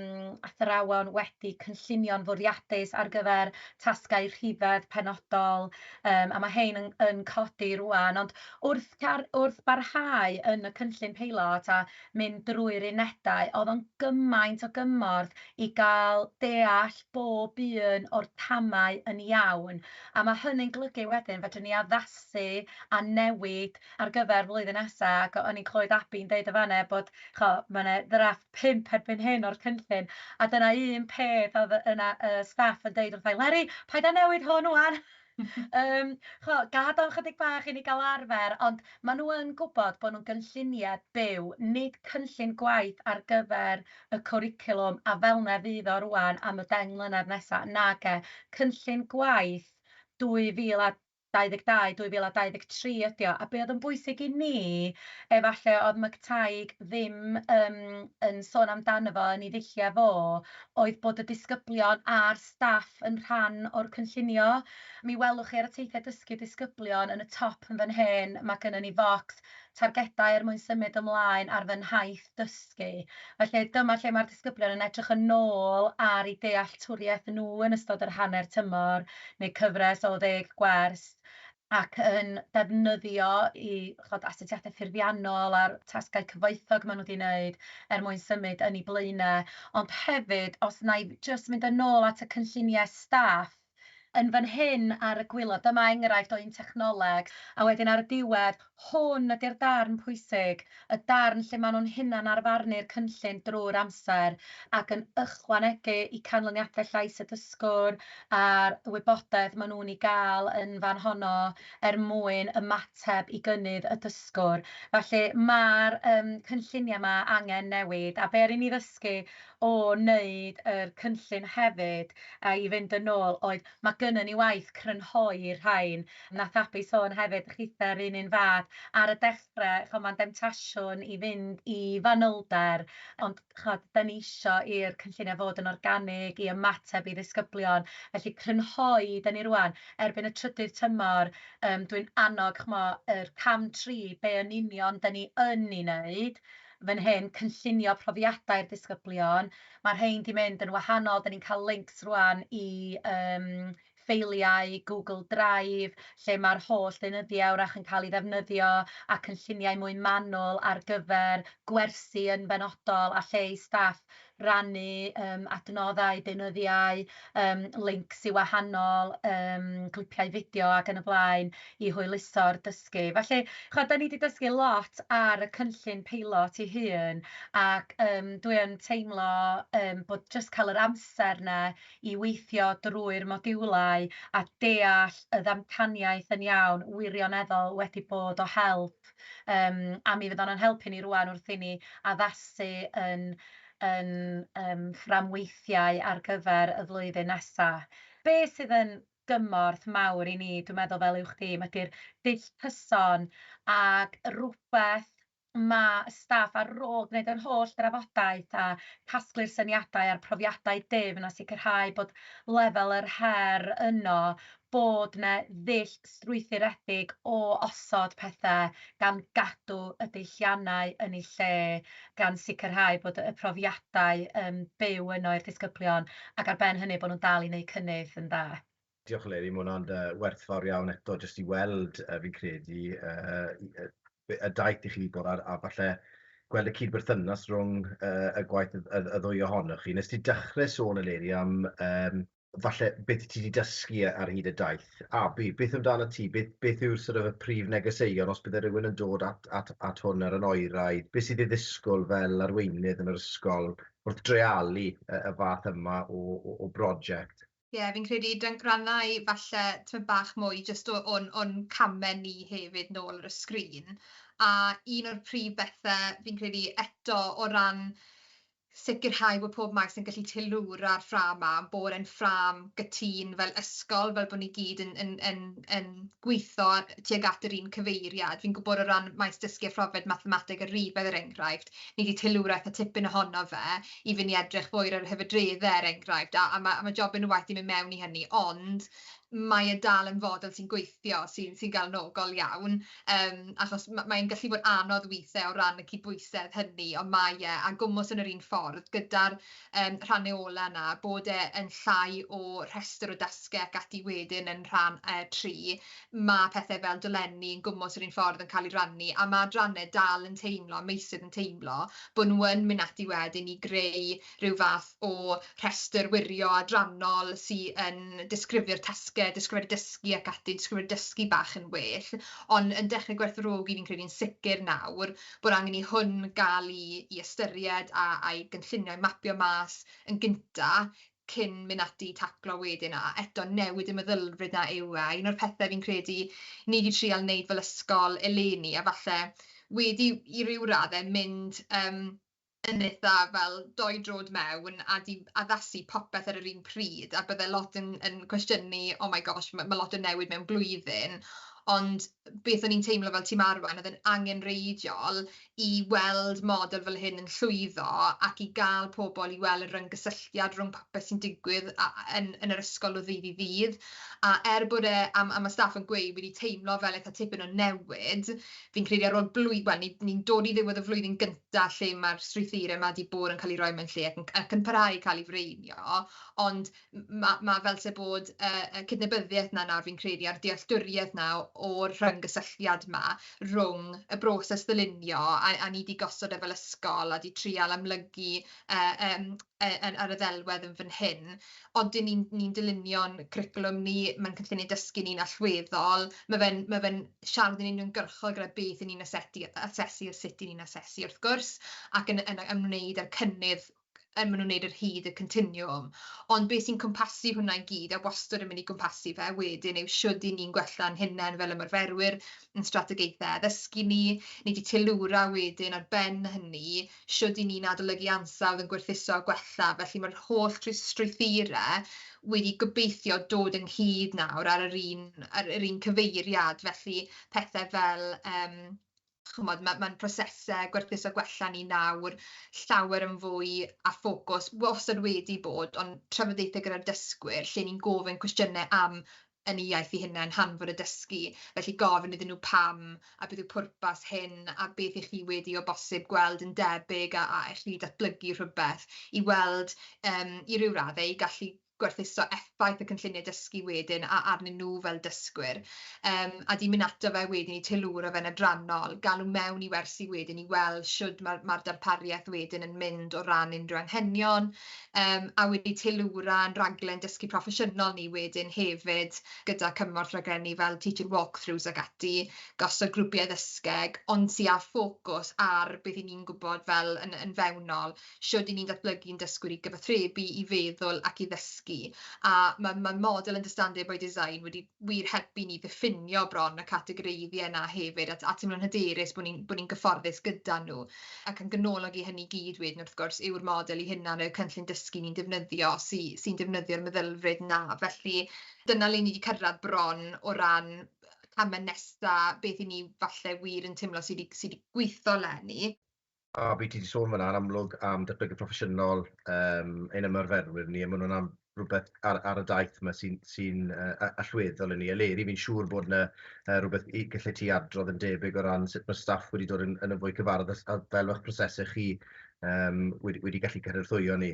athrawon wedi cynllunio'n fwriadus ar gyfer tasgau rhifedd penodol, yym, a ma' rhein yn yn codi rŵan, ond wrth car- wrth barhau yn y cynllun peilot a mynd drwy'r unedau, o'dd o'n gymaint o gymorth i ga'l deall bob un o'r camau yn iawn, a ma' hynny'n golygu wedyn fedrwn ni addasu a newid ar gyfer flwyddyn nesa ac o o'n i'n clywed Abi'n deud yn fan 'na bod ch'o' ma' 'na ddrafft pump erbyn hyn o'r cynllun a dyna un peth odd yy yna y staff yn deud wrtha i Leri paid â newid hwn ŵan yym ch'mo' gad o'n chydig bach i ni ga'l arfer ond ma' nw yn gwbod bo' nw'n gynllunie byw nid cynllun gwaith ar gyfer y cwricwlwm a fel 'na fydd o rŵan am y deng mlynedd nesa nage cynllun gwaith dwy fil a 22 2023 ydi o, a be' o'dd yn bwysig i ni, efalle o'dd McTighe ddim yym yn sôn amdano fo yn 'i ddulliau fo, oedd bod y disgyblion a'r staff yn rhan o'r cynllunio. Mi welwch chi ar y teithiau dysgu disgyblion yn y top yn fan hyn, ma' gynnon ni focs targedau er mwyn symud ymlaen ar fy nhaith dysgu. Felly, dyma lle mae'r disgyblion yn edrych yn ôl ar eu dealltwriaeth nhw yn ystod yr hanner tymor, neu cyfres o ddeg gwers, ac yn defnyddio eu ch'od astudiaethau ffurfiannol a'r tasgau cyfoethog maen nhw 'di wneud er mwyn symud yn eu blaenau. Ond hefyd, os wna i jyst mynd yn ôl at y cynlluniau staff, yn fan hyn ar y gwilod, dyma enghraifft o un technoleg, a wedyn ar y diwedd, hwn ydy'r darn pwysig, y darn lle maen nhw'n hunanarfarnu'r cynllun drwy'r amser ac yn ychwanegu i canlyniadau llais y dysgwr a'r wybodaeth maen nhw'n ei gael yn fan honno er mwyn ymateb i gynnydd y dysgwr. Felly, mae'r yym cynlluniau 'ma angen newid, a be' ry'n ni ddysgu o wneud yr cynllun hefyd a i fynd yn ôl oedd ma' gynnon ni waith crynhoi'r rhain. Nath Abi sôn hefyd chitha 'run un fath ar y dechre ch'mo' ma'n demtasiwn i fynd i fanylder ond ch'od 'dan ni isio i'r cynllunia' fod yn organig i ymateb i ddisgyblion felly crynhoi 'dan ni rŵan erbyn y trydydd tymor yym dwi'n annog ch'mo' yr cam tri be' yn union 'dan ni yn 'i neud fan hyn, cynllunio profiadau'r disgyblion. Mae'r rhain 'di mynd yn wahanol, 'da ni'n cael links rŵan i yym ffeiliau Google Drive lle mae'r holl ddeunyddiau wrach yn cael ei ddefnyddio a cynlluniau mwy manwl ar gyfer gwersi yn benodol a lle i staff rannu yym adnoddau, deunyddiau, yym lincs i wahanol yym clipiau fideo ac yn y blaen i hwyluso'r dysgu. Felly, ch'od, 'dan ni 'di dysgu lot ar y cynllun peilot ei hun, ac yym dwi yn teimlo yym bod jyst cael yr amser 'na i weithio drwy'r modiwlau a deall y ddamcaniaeth yn iawn wirioneddol wedi bod o help. siop, yym, a mi fydd o'n o'n helpu ni rŵan wrth i ni addasu yn yn yym fframweithiau ar gyfer y flwyddyn nesa. Be' sydd yn gymorth mawr i ni, dwi'n meddwl, fel uwch dîm, ydi'r dull cyson ag rwbeth ma' y staff ar ôl gwneud yr holl drafodaeth a casglu'r syniadau a'r profiadau difn a sicrhau bod lefel yr her yno, bod 'na ddull strwythuredig o osod pethe gan gadw y deilliannau yn eu lle, gan sicrhau bod y profiadau yn byw yno i'r disgyblion, ac ar ben hynny bod nhw'n dal i wneud cynnydd yn dda. Diolch Eleri, mae hwnna'n werthfawr iawn eto jyst i weld, fi'n credu, y daith i chi bod ar, a falle gweld y cyd-berthynas rhwng y gwaith y ddwy ohonoch chi. Nes ti dechrau sôn Eleri am falle beth ti 'di dysgu yy ar hyd y daith, a be- beth amdano ti, beth beth yw'r sort of y prif negeseuon os bydde rywun yn dod at at at hwn ar yn oeraidd, be' sydd ei ddisgwyl fel arweinydd yn yr ysgol wrth dreialu y y fath yma o o o broject? Ie, fi'n credu dan- rannau falle tymed bach mwy jyst o o'n o'n came ni hefyd nôl ar y sgrin, a un o'r prif bethe fi'n credu eto o ran sicrhau bod pob maes yn gallu teilwra'r ffrâm 'ma, bod e'n ffrâm gytûn fel ysgol, fel bod ni gyd yn yn yn yn gweithio tuag at yr un cyfeiriad. Fi'n gwybod o ran maes dysgu a phrofiad mathemateg a rifedd er enghraifft, ni 'di teilwra eitha tipyn ohono fe i fynd i edrych fwy ar yr hyfedreddau er enghraifft, a a ma' a ma' job yn y waith i mynd mewn i hynny, ond mae e dal yn fodel sy'n gweithio, sy'n sy'n galonogol iawn. Yym, achos ma- mae'n gallu bod anodd weithiau o ran y cydbwysedd hynny, ond mae e, a gwmws yn yr un ffordd, gyda'r yym rhannuola 'na, bod e yn llai o rhestr o dasgau ac ati wedyn yn rhan yy tri, ma' pethe fel dolenni yn gwmws yr un ffordd yn cael eu rhannu, a ma' adrannau dal yn teimlo, a meysydd yn teimlo, bod nhw yn mynd ati wedyn i greu rhyw fath o rhestr wirio adrannol sy yn disgrifio'r tasgau, disgrifiad dysgu ac ati, disgrifiad dysgu bach yn well, ond yn dechrau gwerthfawrogi, fi'n credu'n sicr nawr, bod angen i hwn gael ei ei ystyried a a'i gynllunio, a'i mapio mas yn gynta, cyn mynd ati i taclo wedyn, a eto newid y meddylfryd 'na yw e, a un o'r pethe fi'n credu ni 'di trial neud fel ysgol eleni, a falle wedi i ryw radde mynd yym yn eitha fel doi drod mewn a di addasu popeth ar yr un pryd a bydde lot yn yn cwestiynu oh my gosh ma' ma' lot yn newid mewn blwyddyn ond beth o'n i'n teimlo fel tîm arwain o'dd e'n angenreidiol i weld model fel hyn yn llwyddo ac i ga'l pobol i wel' y ryngysylltiad rhwng popeth sy'n digwydd a- a- yn yn yr ysgol o ddydd i ddydd a er bod e a ma' a ma' staff yn gweud wedi teimlo fel eitha tipyn o newid Fi'n credu ar ôl blwy- wel, ni- ni'n dod i ddiwedd y flwyddyn gynta lle ma'r strwythure 'ma 'di bod yn ca'l 'u roi mewn lle ac yn ac yn parhau i ca'l 'u fireinio, ond m- ma' ma' fel 'se bod y y cydnabyddieth 'na nawr fi'n credu a'r dealltwrieth 'na o'r rhyng-gysylltiad 'ma rwng y broses ddylunio a a ni 'di gosod e fel ysgol a 'di trial amlygu e yym e yn ar y ddelwedd yn fan hyn, odyn ni'n ni'n dylunio'n cwricwlwm ni, ma'n cynllunio dysgu ni'n allweddol, ma' fe'n ma' fe'n siarad yn uniongyrchol gyda beth 'yn ni'n asetu, asesu a sut 'yn ni'n asesu wrth gwrs, ac yn yn ymwneud â'r cynnydd yn ma' nhw'n neud ar hyd y continwwm, ond be' sy'n cwmpasu hwnna i gyd a wastod yn mynd i gwmpasu fe wedyn yw shwd 'yn ni'n gwella'n hunen fel ymarferwyr, 'yn strategaethe addysgu ni, ni 'di teilwra wedyn ar ben hynny shwt i ni'n adolygu ansawdd yn gwerthuso a gwella, felly mae'r holl strwythurau wedi gobeithio dod ynghyd nawr ar yr un ar yr un cyfeiriad, felly pethe fel yym ch'mod ma' ma'n prosese gwerthuso gwella ni nawr llawer yn fwy â ffocws wastad wedi bod ond trafodaethe gyda'r dysgwyr lle ni'n gofyn cwestiyne am yn eu iaith eu hunain, hanfod a dysgu, felly gofyn iddyn nhw pam a beth yw pwrpas hyn a beth y'ch chi wedi o bosib gweld yn debyg a a y'ch chi wedi datblygu rhywbeth i weld yym i ryw radde i gallu gwerthuso effaith y cynllunie dysgu wedyn a arnyn nhw fel dysgwyr yym a di myn' ato fe wedyn i teilwra fe'n adrannol, galw mewn i wersi wedyn i weld shwd ma'r ma'r darparieth wedyn yn mynd o ran unrhyw anghenion. Yym a wedi teilwra ein rhaglen dysgu proffesiynol ni wedyn hefyd gyda cymorth raglenni fel Teaching Walkthroughs ac ati, gosod grwpiau ddysgeg, ond sy' â ffocws ar beth 'yn ni'n gwybod fel yn yn fewnol, shwd 'yn ni'n datblygu'n dysgwyr i gyfathrebu, i feddwl ac i ddysgu, a ma' ma' model Understanding by Design wedi wir helpu i ni ddiffinio bron y categoreiddiau 'na hefyd, a t- a teimlo'n hyderus bod ni'n bod ni'n gyfforddus gyda nhw. Ac yn ganolog i hynny i gyd wedyn wrth gwrs yw'r model ei hunan, y cynllun dysgu ni'n defnyddio sy sy'n defnyddio'r meddylfryd 'na. Felly dyna le ni 'di cyrraedd bron o ran y camau nesa, beth 'yn ni falle wir yn teimlo sy 'di sy 'di gweithio 'leni. A be ti 'di sôn fan'na yn amlwg am datblygu proffesiynol yym ein ymarferwyr ni a ma' hwnna'n rwbeth ar ar y daith 'ma sy'n sy'n yy a- allweddol i ni. Eleri fi'n siŵr bod 'na yy rwbeth i gelle ti adrodd yn debyg o ran sut ma' staff wedi dod yn yn fwy cyfarwydd a s- a fel o'ch prosese chi yym wedi wedi gallu cynorthwyo ni.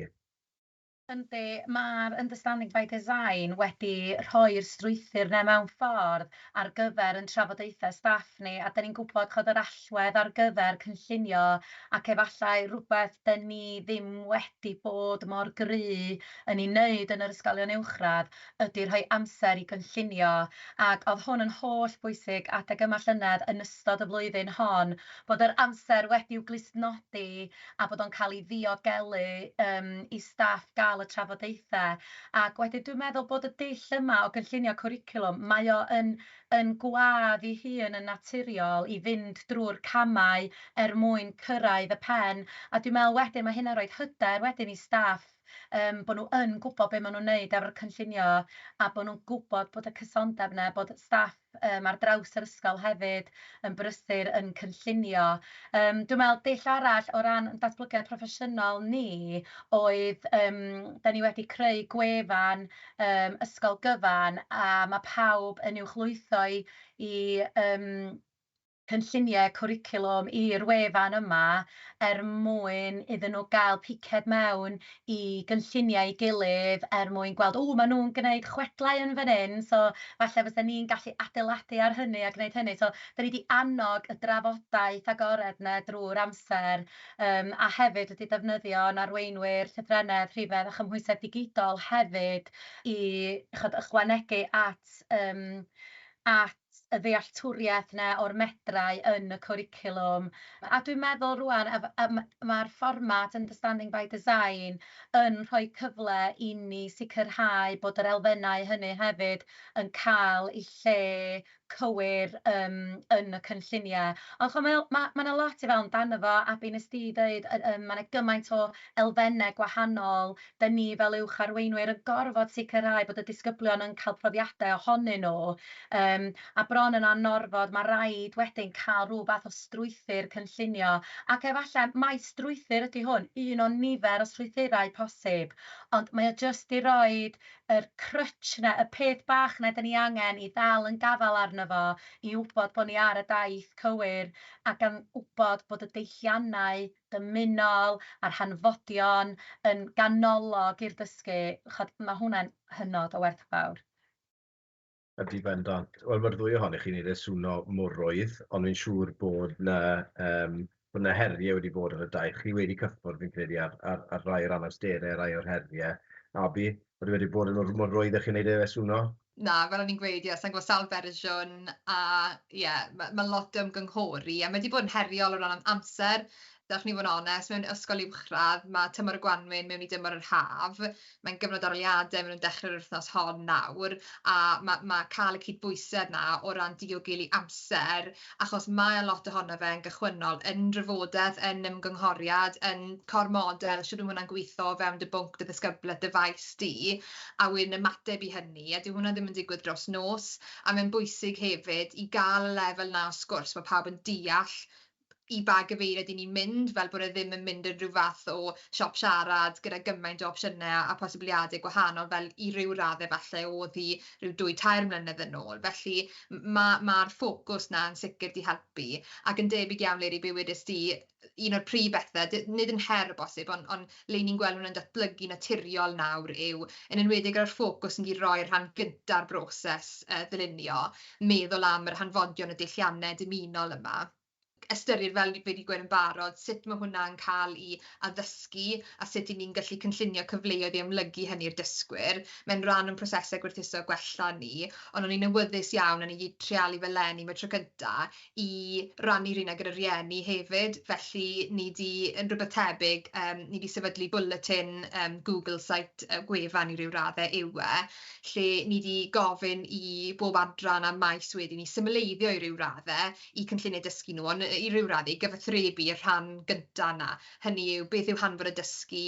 Yndi, mae'r Understanding by Design wedi rhoi'r strwythur 'na mewn ffordd ar gyfer ein trafodaethau staff ni, a 'da ni'n gwybod chibod yr allwedd ar gyfer cynllunio, ac efallai rhywbeth 'da ni ddim wedi bod mor gryf yn ei wneud yn yr ysgolion uwchradd ydy rhoi amser i gynllunio, ac oedd hwn yn holl bwysig adeg yma llynedd yn ystod y flwyddyn hon, bod yr amser wedi'w glustnodi a bod o'n cael ei ddiogelu yym i staff gael y trafodaethau ac wedyn dwi'n meddwl bod y dull yma o gynllunio cwricwlwm, mae o yn yn gwadd ei hun yn naturiol i fynd drwy'r camau er mwyn cyrraedd y pen a dwi'n meddwl wedyn mae hynna'n rhoi hyder wedyn i staff yym bod nhw yn gwybod be maen nhw'n wneud efo'r cynllunio a bod nhw'n gwybod bod y cysondeb yna, bod staff yym ar draws yr ysgol hefyd yn brysur yn cynllunio. Yym dwi'n meddwl dull arall o ran datblygiad proffesiynol ni oedd yym 'da ni wedi creu gwefan yym ysgol gyfan a ma' pawb yn uwchlwytho i i yym cynlluniau cwricwlwm i'r wefan yma er mwyn iddyn nhw gael piced mewn i gynlluniau ei gilydd er mwyn gweld, 'W, maen nhw'n gwneud chwedlau yn fan hyn, so falle fysen ni'n gallu adeiladu ar hynny a gwneud hynny'. So, dan ni 'di annog y drafodaeth agored 'na drwy'r amser yym a hefyd wedi defnyddio ein arweinwyr llythrennedd, rhifedd a chymhwysedd digidol hefyd i chimod ychwanegu at yym at y ddealltwriaeth 'na o'r medrau yn y cwricwlwm, a dwi'n meddwl rŵan a a ma' ma'r fformat Understanding by Design yn rhoi cyfle i ni sicrhau bod yr elfennau hynny hefyd yn cael eu lle cywir yym yn y cynlluniau. Ond ch'mo' mae o ma' ma' 'na lot i feddwl amdano fo a be' wnest ti ddeud yy yym ma' 'na gymaint o elfennau gwahanol 'da ni fel uwch arweinwyr yn gorfod sicrhau bod y disgyblion yn cael profiadau ohonyn nhw, yym, a bron yn anorfod, ma' raid wedyn cael rhyw fath o strwythur cynllunio, ac efallai mai strwythur ydy hwn, un o nifer o strwythurau posib, ond mae o jyst i roi yr crutch 'na, y peth bach 'na 'da ni angen i ddal yn gafael arno fo, i wybod bod ni ar y daith cywir, a gan wybod bod y deilliannau, dymunol a'r hanfodion yn ganolog i'r dysgu, ch'od, ma' hwnna'n hynod o werthfawr. Ydi, bendant. Wel, ma'r ddwy ohonoch chi'n neud e swno mor rwydd, ond fi'n siŵr bod 'na yym bod 'na herie wedi bod ar y daith. Chi wedi cyffwrdd fi'n credu ar ar ar rai o'r anawstere, rai o'r herie, a bu, odi wedi bod yn mor rwydd â chi'n neud e swno? Na, fel o'n i'n gweud, ie, sa i'n gwbod sawl fersiwn, a ie, ma' ma' lot o ymgynghori, a ma' 'di bod yn heriol o ran am- amser, dach ch'n i fod yn onest, mewn ysgol uwchradd, ma' tymor y gwanwyn mewn i dymor yr haf, mae'n gyfnod aroliade, ma' nw'n dechre'r wythnos hon nawr, a ma' ma' ca'l y cydbwysedd 'na o ran diogelu amser, achos mae lot ohono fe yn gychwynnol, yn nrafodeth, yn ymgynghoriad, yn core model, shwt ma' hwnna'n gwitho o fewn dy bwnc, dy ddisgyblaeth, dy faes di, a wedyn ymateb i hynny, a dyw hwnna ddim yn digwydd dros nos, a mae'n bwysig hefyd i ga'l y lefel 'na o sgwrs, ma' pawb yn deall i ba gyfeiriad 'yn ni'n mynd, fel bod e ddim yn mynd yn ryw fath o siop siarad gyda gymaint o opsiyne a posibiliade gwahanol, fel i ryw radde falle o'dd hi ryw dwy tair mlynedd yn ôl, felly ma' ma'r ffocws 'na yn sicr 'di helpu, ac yn debyg iawn Leri be' wedest ti, un o'r prif bethe, d- nid yn her o bosib, on' on' le 'yn ni'n gweld hwnna'n datblygu naturiol nawr yw, yn enwedig ar y ffocws yn mynd i roi y rhan gynta'r broses yy ddylunio, meddwl am yr hanfodion y dullianne dymunol yma. ystyried, fel fi 'di gweud yn barod, sut ma' hwnna'n ca'l 'i addysgu, a sut 'yn ni'n gallu cynllunio cyfleoedd i amlygu hynny i'r dysgwyr. Mae'n ran o'n prosese gwerthuso gwella ni, ond o'n i'n awyddus iawn, a ni 'di treialu fe leni am y tro cynta, i rannu rheina gyda rhieni hefyd, felly ni 'di... yn rwbeth tebyg, yym ni 'di sefydlu bwletin yym Google site, yy gwefan i ryw radde yw e, lle ni 'di gofyn i bob adran a maes wedyn i symleiddio i ryw radde, eu cynlluniau dysgu nhw, ond i ryw raddau gyfathrebu i'r rhan gynta' yna, hynny yw beth yw hanfod y dysgu,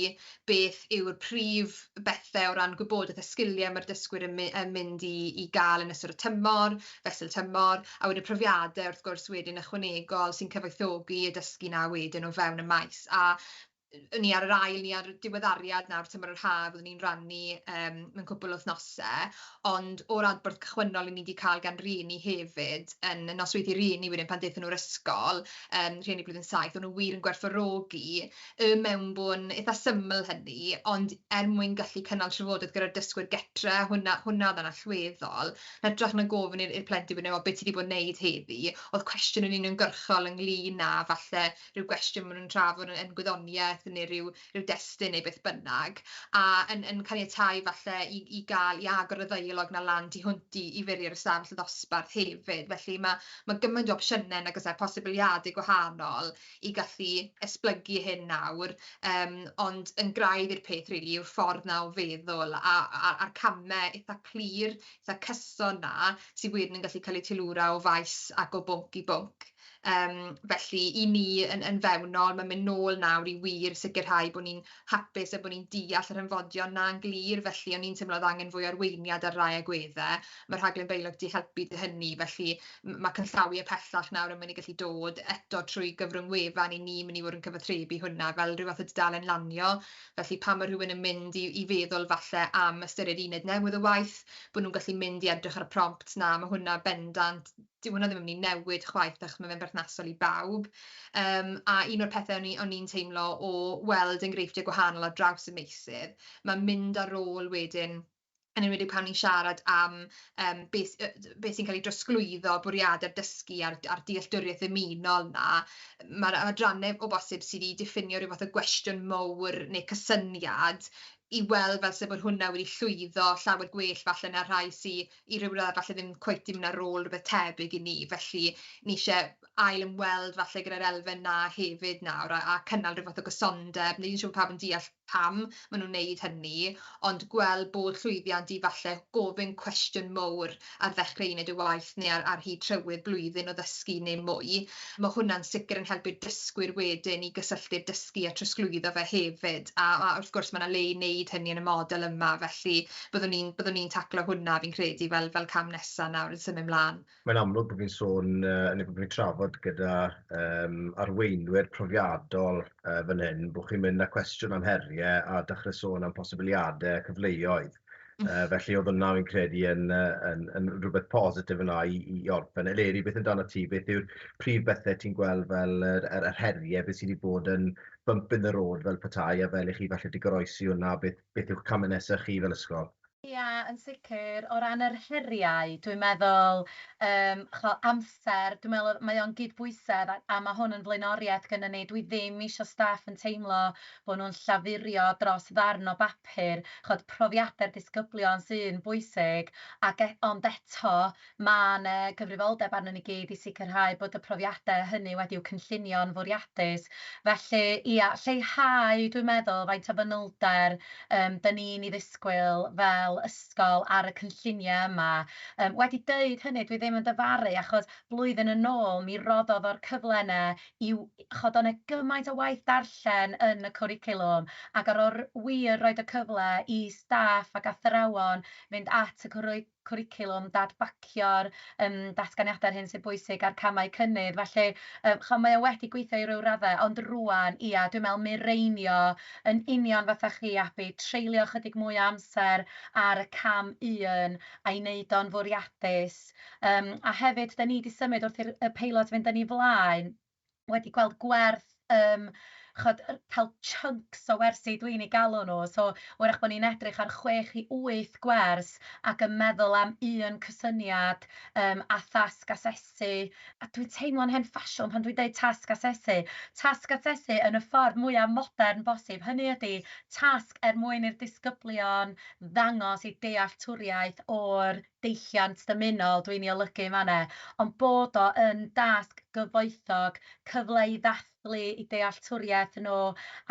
beth yw'r prif bethe' o ran gwybodaeth a sgilie ma'r dysgwyr yn my- yn mynd i i ga'l yn ystod y tymor, fesul tymor, a wedyn profiade wrth gwrs wedyn ychwanegol sy'n cyfoethogi y dysgu 'na wedyn o fewn y maes, a 'yn ni ar yr ail, ni ar y diweddariad nawr, tymor yr haf, fyddwn ni'n rhannu yym mewn cwpwl o wythnose, ond o'r adborth cychwynnol 'yn ni 'di ca'l gan rieni hefyd yn y nosweithi rieni wedyn pan dethon nw'r ysgol yym rhieni blwyddyn saith, o'n nw wir yn gwerthfawrogi y mewnbwn itha syml hynny, ond er mwyn gallu cynnal trafodaeth gyda'r dysgwyr gytre, hwnna hwnna o'dd yn allweddol, yn hytrach na gofyn i'r i'r plentyn wedyn o be' ti 'di bod neud heddi, o'dd cwestiwn yn uniongyrchol ynglŷn â falle rhyw gwestiwn maen nhw'n trafod yn yn gwyddoniaeth neu ryw ryw destun neu beth bynnag, a yn yn caniatáu falle i i ga'l i agor y ddeialog 'na lan tu hwnt i i fwrie'r ystafell ddosbarth hefyd, felly ma' ma' gymaint o opsiyne nag oes e, posibiliade gwahanol i gallu esblygu hyn nawr, yym ond yn graidd i'r peth rili yw'r ffordd 'na o feddwl a a a'r came itha clir, itha cyson 'na sy wir yn gallu ca'l eu teilwra o faes ac o bwnc i bwnc. Yym felly i ni yn yn fewnol ma'n mynd nôl nawr i wir sicirhau bo' ni'n hapus a bo' ni'n deall yr hanfodion 'na'n glir felly o'n i'n teimlo o'dd angen fwy o arweiniad ar rai agwedde, ma' rhaglen Beileg di helpu 'dy hynny felly m- ma' canllawie pellach nawr yn myn' i gallu dod eto trwy gyfrwng wefan 'yn ni myn' i fod yn cyfathrebu hwnna fel ryw fath o dudalen lanio felly pan ma' rhywun yn mynd i i feddwl falle am ystyried uned newydd o waith bo' nw'n gallu mynd i edrych ar y prompts 'na ma' hwnna bendant dyw hwnna ddim yn mynd i newid chwaith achos mae fe'n berthnasol i bawb, yym a un o'r pethe o'n i o'n i'n teimlo o weld enghreifftiau gwahanol ar draws y meysydd, ma' mynd ar ôl wedyn, yn enwedig pan ni'n siarad am yym be' s- yy be' sy'n cael ei drosglwyddo, bwriade'r dysgu a'r a'r dealltwriaeth ddymunol 'na, ma'r adrannau o bosib sy' 'di diffinio ryw fath o gwestiwn mowr neu cysyniad i weld fel 'se bod hwnna wedi llwyddo llawer gwell falle na'r rhai sy' i rywle falle ddim cweit ddim na rôl rywbeth tebyg i ni, felly ni isie ail ymweld falle gyda'r elfen 'na hefyd nawr a a cynnal ryw fath o gysondeb, ni'n siŵr pawb yn deall pam ma' nw'n neud hynny, ond gweld bod llwyddiant i falle gofyn cwestiwn mowr ar ddechre uned y waith ne' ar ar hyd trywydd blwyddyn o ddysgu ne' mwy, ma' hwnna'n sicr yn helpu'r dysgwyr wedyn i gysylltu'r dysgu a trosglwyddo fe hefyd, a a wrth gwrs ma' 'na le i neud hynny yn y model yma, felly byddwn ni'n, byddwn ni'n taclo hwnna fi'n credu fel fel cam nesa nawr yn symud mlan. Mae'n amlwg bod fi'n sôn yy neu bod fi'n trafod gyda yym arweinwyr profiadol yy fan hyn bod chi'n mynd â cwestiwn am herie a dechre sôn am posibiliade a cyfleoedd yy felly o'dd hwnna fi'n credu yn yy yn yn rwbeth positif yna i i i orffen. Eleri beth amdanat ti beth yw'r prif bethe ti'n gweld fel yr yr yr herie beth sy 'di bod yn bump in the road fel petai a fel i chi falle 'di goroesi hwnna beth beth yw'ch camau nesaf chi fel ysgol? Ia, yn sicr. O ran yr heriau, dwi'n meddwl yym ch'mo' amser, dwi'n meddwl mae o'n gydbwysedd a a ma' hwn yn flaenoriaeth gynnon ni. Dwi ddim isio staff yn teimlo bo' nhw'n llafurio dros ddarn o bapur. Ch'od profiadau'r disgyblion sy'n bwysig ac e- ond eto Mae yna gyfrifoldeb arnon ni gyd i sicrhau bod y profiadau hynny wedi'u cynllunio'n fwriadus. Felly, ia, lleihau, dwi'n meddwl, faint o fanylder yym 'da ni'n ei ddisgwyl fel ysgol ar y cynlluniau yma. Yym, wedi deud hynny, dwi ddim yn dyfaru, achos blwyddyn yn ôl mi roddodd o'r cyfle yna i w-, chibod, oedd yna gymaint o waith darllen yn y cwricwlwm, ac ar ôl r-, wir roid y cyfle i staff ac athrawon fynd at y cwricwlwm, cwricwlwm, dadbacio'r yym datganiadau a'r hyn sy'n bwysig a'r camau cynnydd. Felly, yym, chimod, mae o wedi gweithio i ryw raddau, ond rŵan, ia, dwi'n meddwl mireinio yn union fatha chi, Abi, treulio ychydig mwy o amser ar y cam un a'i wneud o'n fwriadus. Yym, a hefyd, 'da ni 'di symud wrth i'r y peilot fynd yn ei flaen, wedi gweld gwerth ym ch'od yy cael chunks o wersi dwi'n eu galw nhw, so wrach bod ni'n edrych ar chwech i wyth gwers ac yn meddwl am un cysyniad yym a thasg asesu, a dwi'n teimlo'n hen ffasiwn pan dwi'n deud tasg asesu, tasg asesu yn y ffordd mwya' modern bosib, hynny ydi tasg er mwyn i'r disgyblion ddangos i dealltwriaeth o'r deilliant dymunol dwi'n ei olygu yn fan 'na, ond bod o yn dasg gyfoethog, cyfle i ddathlu eu dealltwriaeth nhw,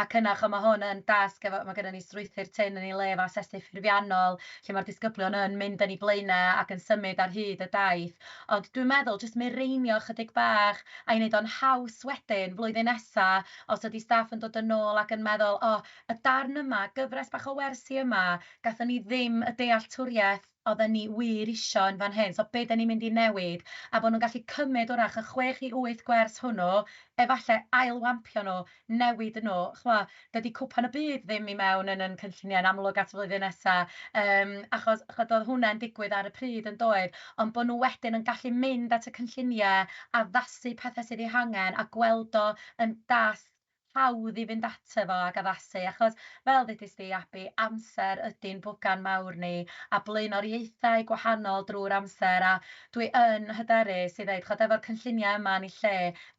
ac yna, chimod, mae hwn yn dasg efo... mae gynnon ni strwythur tynn yn ei le efo asesu ffurfiannol, lle mae'r disgyblion yn mynd yn eu blaenau ac yn symud ar hyd y daith. Ond dwi'n meddwl jyst mireinio ychydig bach a'i wneud o'n haws wedyn, flwyddyn nesa, os ydy staff yn dod yn ôl ac yn meddwl, 'O, y darn yma, gyfres bach o wersi yma, gathon ni ddim y dealltwriaeth oedden ni wir isio yn fan hyn, so be' 'den ni'n mynd i newid, a bod nhw'n gallu cymryd 'w'rach y chwech i wyth gwers hwnnw, efallai ail-wampio nhw, newid nhw, ch'mo', dydy Cwpan y Byd ddim i mewn yn yn cynlluniau yn amlwg at y flwyddyn nesa', yym, achos ch'od doedd hwnne'n digwydd ar y pryd yn doedd, ond bod nhw wedyn yn gallu mynd at y cynlluniau, addasu pethe sydd eu hangen a gweld o yn dath hawdd i fynd ato fo ac addasu, achos fel ddudist di, Abi, amser ydi'n bwgan mawr ni, a blaenoriaethau gwahanol drwy'r amser, a dwi yn hyderus i ddeud, chibod, efo'r cynlluniau yma yn eu lle,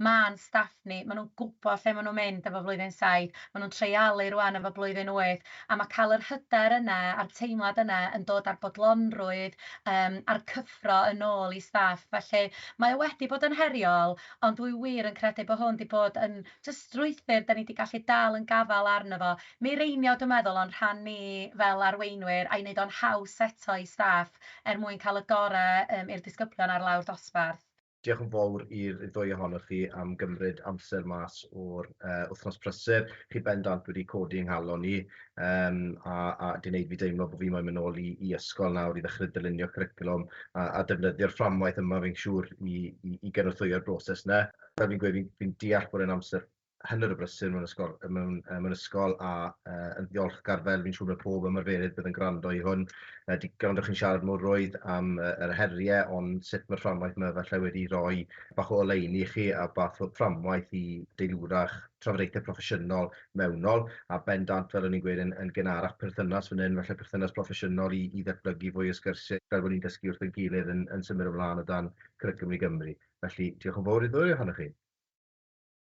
ma'n staff ni, maen nhw'n gwybod lle maen nhw'n mynd efo Blwyddyn Saith, maen nhw'n treialu rŵan efo Blwyddyn Wyth, a mae cael yr hyder yna a'r teimlad yna yn dod â'r bodlonrwydd yym a'r cyffro yn ôl i staff, felly mae o wedi bod yn heriol, Ond dwi wir yn credu bod hwn 'di bod yn jyst strwythur 'dan ni 'di gallu dal yn gafael arno fo. Mireinio dwi'n meddwl o'n rhan ni fel arweinwyr a'i wneud o'n haws eto i staff er mwyn cael y gorau yym i'r disgyblion ar lawr dosbarth. Diolch yn fawr i'r ddwy ohonoch chi am gymryd amser mas o'r yy wythnos prysur. Chi bendant wedi codi 'y nghalon i. Yym a a 'di neud fi deimlo bo' fi moyn myn' nôl i i ysgol nawr i ddechre dylunio cwricwlwm a a defnyddio'r fframwaith yma fi'n siŵr i i i gynorthwyo'r broses 'ny. Fel fi'n gweud fi'n fi'n deall bod e'n amser hanner o brysur mewn ysgol yy mewn yy mewn ysgol a yy yn ddiolchgar fel fi'n siŵr ma' pob ymarferydd bydd yn gwrando i hwn yy 'di gwrando chi'n siarad mor rwydd am yy yr herie ond sut ma'r fframwaith 'ma falle wedi roi bach o oleuni i chi a bach o fframwaith i deilwrach trafodaethe proffesiynol mewnol, a bendant, fel o'n i'n gweud, yn gynharach perthynas fan hyn, falle perthynas proffesiynol i ddatblygu fwy o sgyrsiau fel bod ni'n dysgu wrth ein gilydd yn symud ymlaen o dan Cwricwlwm i Gymru. Felly, diolch yn fawr i ddwy ohonoch chi.